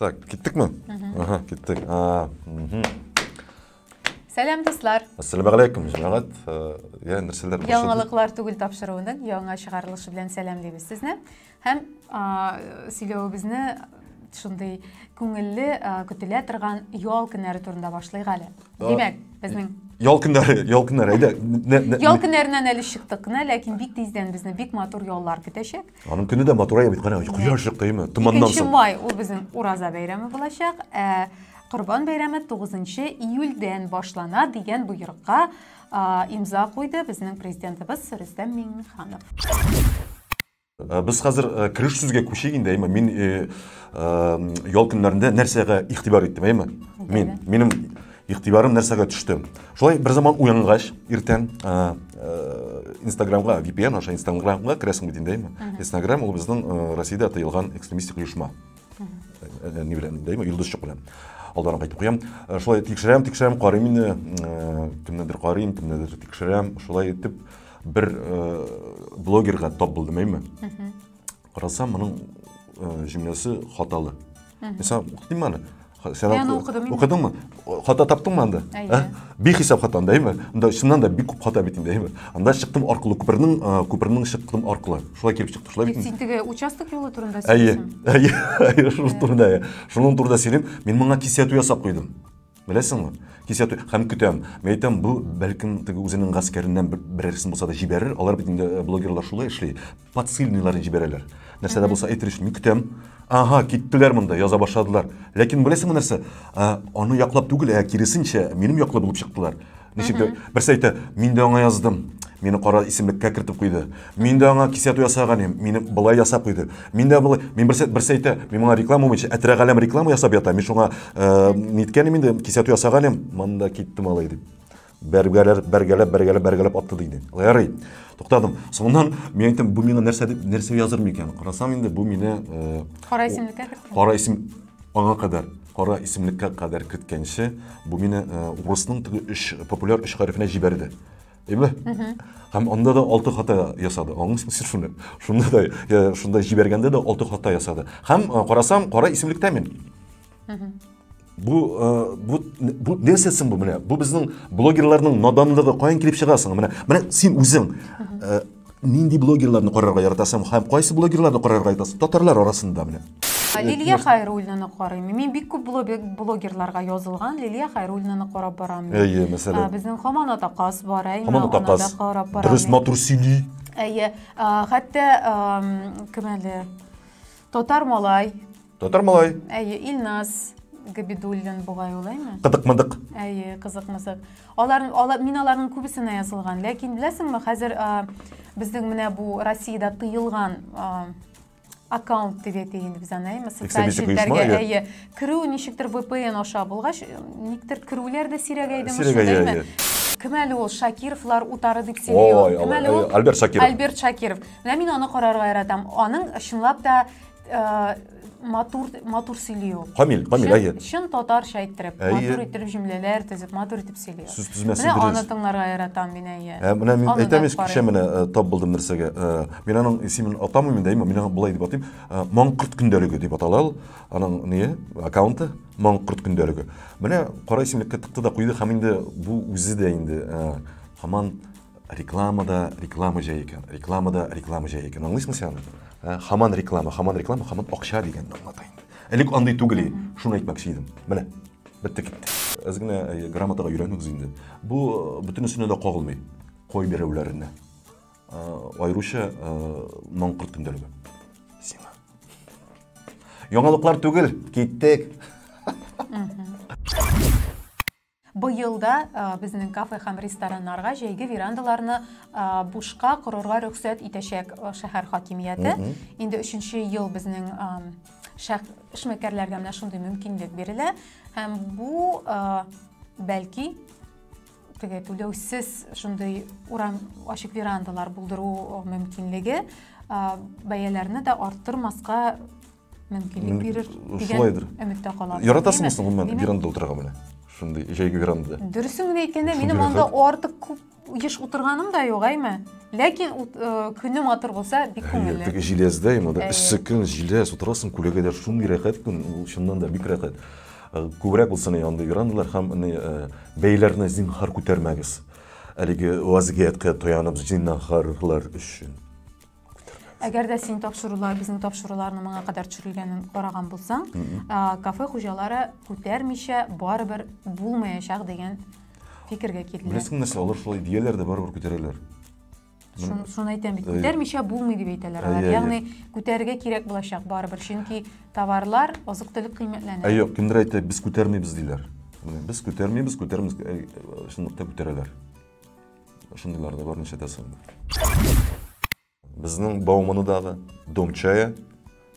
Так, киттек мы? Ага, киттек. А, угу. Сәлам дуслар. Ассаламу алейкум, җәмәгать. Э, я нәрсәләр башлады? Яңалыклар түгел тапшыруының яңа чыгарылышы белән сәлам дибез сезне. Һәм сөйләвебезне шундый күңелле көтелә торган ял көннәре турында башлыйк әле. Димәк, безнең Ял көннәре, ял көннәре. Әйдә. Ял көннәреннән әле чыктык кына, ләкин бик тиздән безне бик матур яллар көтәчәк. Аның көне дә матурая бит, кара, кояш чыктымы, томаннан соң. 2 май ул безнең Ураза бәйрәме булачак. Ә Корбан бәйрәме 9 июльдән башлана дигән боерыкка имза куйды безнең президентыбыз Рөстәм Миңнеханов. Э, без хәзер э, кереш сүзгә күчик инде, әйме. Мин э, ял көннәрендә нәрсәгә игътибар иттем, әйме? Мин, минем Игътибарым нәрсәгә төште? Шулай берзаман уянгач, иртән Инстаграмга, VPN аша Инстаграмга керәсең бит инде, Инстаграм ул безнең Россиядә тыелган экстремистик оешма. Ни белән, дәйме, Йолдызчык белән. Алдан кайтып куям. Шулай тикшерәм, тикшерәм, карыйм инде. Кемнедер карыйм, кемнедер тикшерәм. Шулай итеп бер блогерга тап булдым, әйме. Карасам, моның җөмләсе хаталы. Мисал, укыдым әле. Сен Мен оқыдым. Оқыдың ма? Хата таптың ма анда? Ә? Бихисап хата анда, әйме? Анда чыннан да бик күп хата бит инде, әйме? Анда чыктым аркылы күпернең, күпернең чыктым аркылы. Шулай килеп чыкты, шулай бит. Син теге участок юлы турында сөйләдең. Әйе, әйе, әйе, шул турында. Шуның турында сөйлим. Мин моңа кисәтү ясап куйдым. Беләсеңме? Кисәтү һәм көтәм. Мин әйтәм, бу бәлкем теге үзенең гаскәреннән берәрсен булса да җибәрер. Алар бит инде э, блогерлар шулай эшли. Подсыльныйларын җибәрәләр. Нәрсә дә булса әйтер өчен мин көтәм. Ага, киттеләр монда, яза башладылар. Ләкин беләсеңме нәрсә? Э, аны яклап түгел, ә киресенчә, минем яклы булып чыктылар. Ничек дә берсе әйтә, мин дә аңа яздым. Мине кара исемлеккә кертеп куйды. Мин дә аңа кисәтү ясаган идем. Мине былай ясап куйды. Мин дә былай, мин берсе берсе әйтә, мин моңа реклама буенча әтрәк әлем реклама ясап ята. Мин шуңа э, ниткәнем инде кисәтү ясаган идем. Монда китте малай дип. Бәргәләр, бәргәләп, бәргәләп, бәргәләп атты диде. Ярый. Туктадым. Соңыннан мин әйттем, бу миңа нәрсә дип нәрсә языр микән? Карасам инде бу мине э, Кара исемлеккә кертте. кара исем Аңа кадәр, кара исемлеккә кадәр керткәнче, бу мине э, урысның теге өч популяр өч хәрефенә җибәрде. Әйме? Һәм анда да алты хата ясады. Аңлыйсың сез шуны? Шунда да, я, шунда җибәргәндә дә алты хата ясады. Һәм э, карасам, кара исемлектә мин. Бу, э, бу, бу нәрсә соң бу менә? Бу безнең блогерларның наданлыгы каян килеп чыга соң? Менә, менә син үзең э, Нинди блогерларны карарга яратасың һәм кайсы блогерларны карарга яратасың? Татарлар арасында менә. Лилия Хайруллинаны карыйм. Мин бик күп блогерларга язылган Лилия Хайруллинаны карап барам. Әйе, мәсәлән. Безнең Хаман Атакас бар, әйе, Хаман Атакас. Карап барам. Дөрес, матур сөйли. Әйе, хәтта кем әле? Татар малай Татар малай. Әйе, Илназ Габидуллин бугай улаймы? Кыдык-мыдык. Әйе, кызык-мызык. Алар, алар, мин аларның күбесенә язылган. Ләкин беләсеңме, хәзер а, безнең менә бу Россиядә тыелган а, аккаунт дип әйтик инде без аны, әйме? Социаль Экстремистик оешма, челтәргә, әйе. әйе. Керү ничектер VPN аша булгач, никтер керүләр дә сирәгәйдеме Сирәгәя, шундый, әйме? әйе. Кем әле ул Шакировлар утары дип сөйли Ой, ул. Кем Алла, әле ул? әйе, Альберт Шакиров. Альберт Шакиров. Менә мин аны карарга яратам. Аның чынлап та Ә, матур матур сөйли ул камил камил әйе чын татарча әйттереп матур иттереп җөмләләр төзеп матур итеп сөйли сүз тезмәсен дөрес менә аны тыңларга яратам мин әйе ә, менә мин әйтәм ич кичә менә э, тап булдым нәрсәгә э, мин аның исемен атамыйм инде әйме мин аны болай дип атыйм э, маңкорт көндәлеге дип атала ул аның не аккаунты маңкорт көндәлеге менә кара исемлеккә тыкты да куйды һәм инде бу үзе дә инде һаман Рекламада реклама җәй икән, рекламада реклама җәй икән. Аңлыйсыңмы син аны? Ә, Хаман реклама, хаман реклама, хаман акча дигәнне аңлата инде. Элек андый түгел иде. Шуны әйтмәкче идем. Менә, бетте китте. Әз генә э, грамотага өйрәнегез инде. Бу э, бөтенесенә дә кагылмый. Кой берәүләренә. Ә, Аеруча ә, маңкырт көндәлеге. Сиңа. Яңалыклар түгел, киттек. Быел да безнең кафе һәм рестораннарга җәйге верандаларны бушка корырга рөхсәт итәчәк шәһәр хакимияте. Инде өченче ел безнең эшмәкәрләргә менә шундый мөмкинлек бирелә. Һәм бу, бәлки, теге түләүсез шундый урам ачык верандалар булдыру мөмкинлеге бәяләрне дә арттырмаска мөмкинлек бирер шулайдыр өметтә калам яратасың соң гомумән верандада утырырга менә шундый җәйге верандада дөресен генә әйткәндә минем анда артык күп еш утырганым да юк әйме ләкин көне матур булса бик күңелле теге җиләздә именно да эссе көн җиләс утырасың күләгәдә шундый рәхәт күн ул чыннан да бик рәхәт күбрәк булсын андый верандалар һәм бәяләрне зинһар күтәрмәгез әлеге вазгыятькә таянып зинһарлар өчен Әгәр дә син тапшырулар, безнең тапшыруларны моңа кадәр төшерелгәнен караган булсаң, кафе хуҗалары күтәрмичә барыбер булмаячак дигән фикергә килделәр. Беләсең нәрсә, алар шулай дияләр дә барыбер күтәрәләр. Шуны әйтәм бит, күтәрмичә булмый дип әйтәләр алар. Ягъни күтәрергә кирәк булачак барыбер, чөнки товарлар, азык-төлек кыйммәтләнә. Юк, кемдер әйтә, без күтәрмибез диләр. Без күтәрмибез, күтәрмибез, чынлыкта күтәрәләр. Шундыйлар да бар, ничә дә соң. Безнең Бауманадагы дом чая,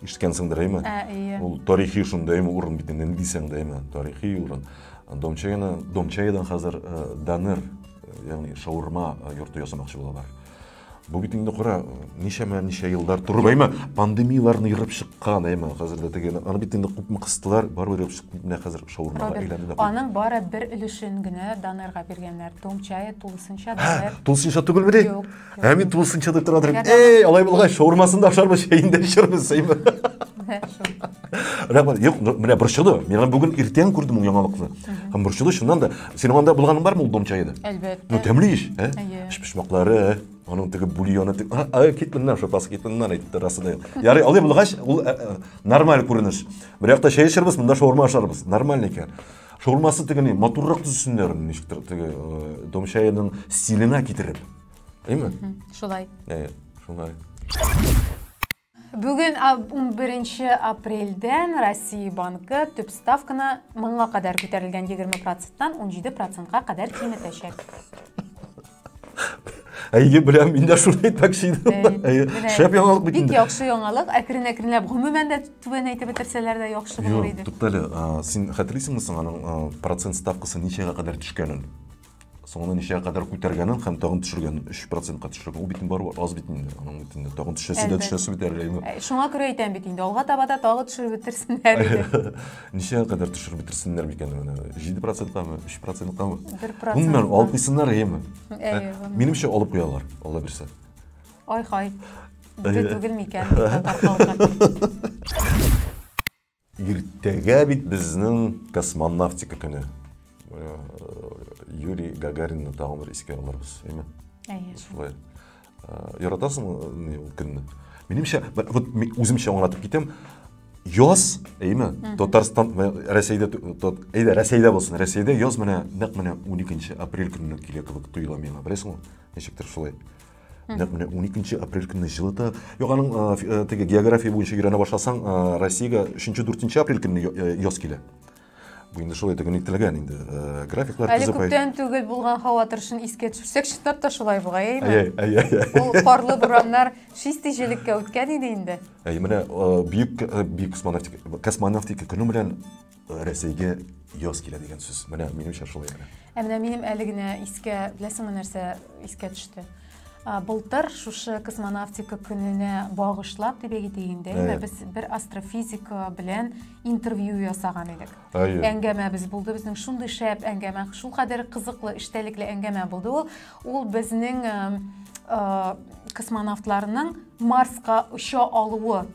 ишеткәнсеңдер, әйме? Ә, әйе. Ул тарихи шунда, әйме, урын бит инде, ни дисәң дә, әйме, тарихи урын. Дом чаяны, дом чаядан хәзер э, данер, э, ягъни шаурма э, йорты ясамакчы булалар. Бу бит инде кара, ничәмә ничә еллар торып, әйме, пандемияләрне ерып чыккан, әйме, хәзер дә теге, аны бит инде күпме кыстылар, барыбер ерып чыкты, менә хәзер шаурмага әйләнде. Аның бары бер өлешен генә донорга биргәннәр, тулчая тулысынча донор. Тулысынча түгел мени? Юк. Ә мин тулысынча дип тора идем. Эй, алай булгач, шаурмасын да ашарбыз, чәен дә эчербез, әйме. Рәхмәт. Юк, менә борчылды. Мин бүген иртән күрдем ул яңалыкны. Һәм борчылды, чыннан да. Синең анда булганың бармы ул дом чаеда? Әлбәттә. Ну, тәмле еш, ә? Әйе. Пешмаклары, ә? Аның теге бульоны, теге... А, а, кит моннан, шопас, кит моннан, әйтте расы да. Ярый, алай булгач, ул ә, ә, нормаль күренеш. Бер якта чәй эчербез, монда шаурма ашарбыз. Нормаль икән. Шаурмасы теге ни, матуррак төзесеннәр, ничектер, теге э, дом чаеның стиленә китереп. Әйме? Шулай. Әйе, шулай. Бүген унберенче апрельдән Россия банкы төп ставканы моңа кадәр күтәрелгән 20 проценттан 17 процентка кадәр киметәчәк. Әйе, беләм, мин дә шуны әйтмәкче идем. Әйе, шәп яңалык бит инде. Бик яхшы яңалык. Әкрен-әкренләп гомумән дә түбән әйтеп бетерсәләр дә яхшы булыр иде. Юк, туктале, син хәтерлисеңме соң аның процент ставкасы ничәгә кадәр төшкәнен? соңына ничәгә кадәр күтәргәнен һәм тагын төшергән 3 процентка төшергән ул бит инде барыбер аз бит инде аның бит инде тагын төшәсе дә төшәсе бит әле инде шуңа күрә әйтәм бит инде алга таба да тагы төшереп бетерсеннәр иде ничәгә кадәр төшереп бетерсеннәр микән менә 7 проценткамы 3 проценткамы 1 процент гомумән алып куйсыннар әйеме минемчә алып куялар алла бирсә ай хай түгел микән татар халкы Иртәгә бит безнең космонавтика көне. Юрий Гагаринны тагын бер искә алырбыз, әйме? Әйе. Шулай. Яратасыңмы ул көнне? Минемчә, вот үземчә аңлатып китәм, яз, әйме, Татарстан, Рәсәйдә, әйдә, Рәсәйдә булсын, Рәсәйдә яз менә, нәкъ менә 12 апрель көненә килә кебек тоела миңа, беләсеңме? Ничектер шулай. нәкъ менә уникенче апрель көнне җылыта юк аның э, теге география буенча өйрәнә башласаң э, россиягә өченче дүртенче апрель көнне э, яз килә бу инде шулай итеп нектелгән инде графиклар әле күптән түгел булган һава торышын искә төшерсәк чынлап та шулай бугай әйме ул карлы бураннар чистый җилеккә үткән иде инде әй менә бөек бөек космонавтика космонавтика көне белән Рәсәйгә яз килә дигән сүз. Менә минемчә шулай гына. Ә менә минем әле генә искә, беләсеңме нәрсә искә төште? Былтыр шушы космонавтика көненә багышлап дип әйтик инде, әйе, без бер астрофизик белән интервью ясаган идек. Әйе. Әңгәмәбез булды безнең шундый шәп әңгәмә, шул кадәр кызыклы, эчтәлекле әңгәмә булды ул. Ул безнең космонавтларның Марска оча алуы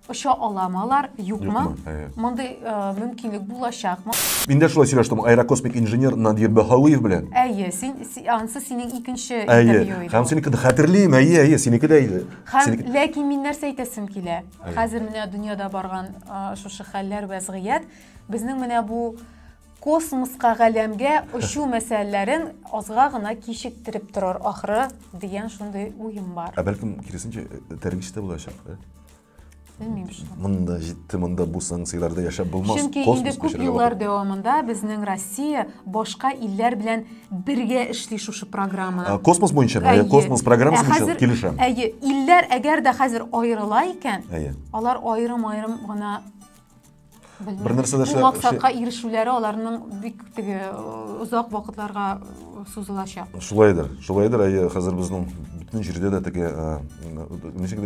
Оча аламы алар, юкмы? Юкмы, әйе. Мондый э, мөмкинлек булачакмы? Мин дә шулай сөйләштем аэрокосмик инженер Надир Баһауиев белән. Әйе, син си- ансы синең икенче Әйе. интервью иде. Һәм ул. синекен хәтерлим, әйе, әйе, синеке дә иде. Һәм Синеке- ләкин мин нәрсә әйтәсем килә? Әйе. Хәзер менә дөньяда барган а, шушы хәлләр вәзгыять безнең менә бу космоска галәмгә очу мәсьәләләрен азга гына кичектереп торыр ахры дигән шундый уем бар. Ә бәлкем киресенчә э, тәрбияче дә булачак. э? Белмим шул. Монда җитте, монда бу санкцияләрдә яшәп булмас. Чөнки инде күп еллар дәвамында безнең Россия башка илләр белән бергә эшли шушы программа. Ә, космос буенча, әйе, космос программасы буенча килешәм. Әйе, илләр әгәр дә хәзер аерыла икән, алар аерым-аерым гына бер нәрсә дә максатка ирешүләре аларның бик теге озак вакытларга сузылачак шулайдыр шулайдыр әйе хәзер безнең бөтен җирдә дә теге ничек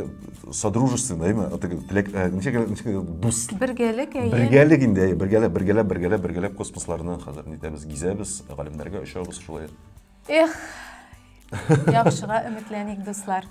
содружественныймы теге теләк ничек ничек дус бергәлек әйе бергәлек инде әйе бергәләп бергәләп бергәләп бергәләп космосларны хәзер нитәбез гизәбез галимнәргә очабыз шулай эх яхшыга өметләник дуслар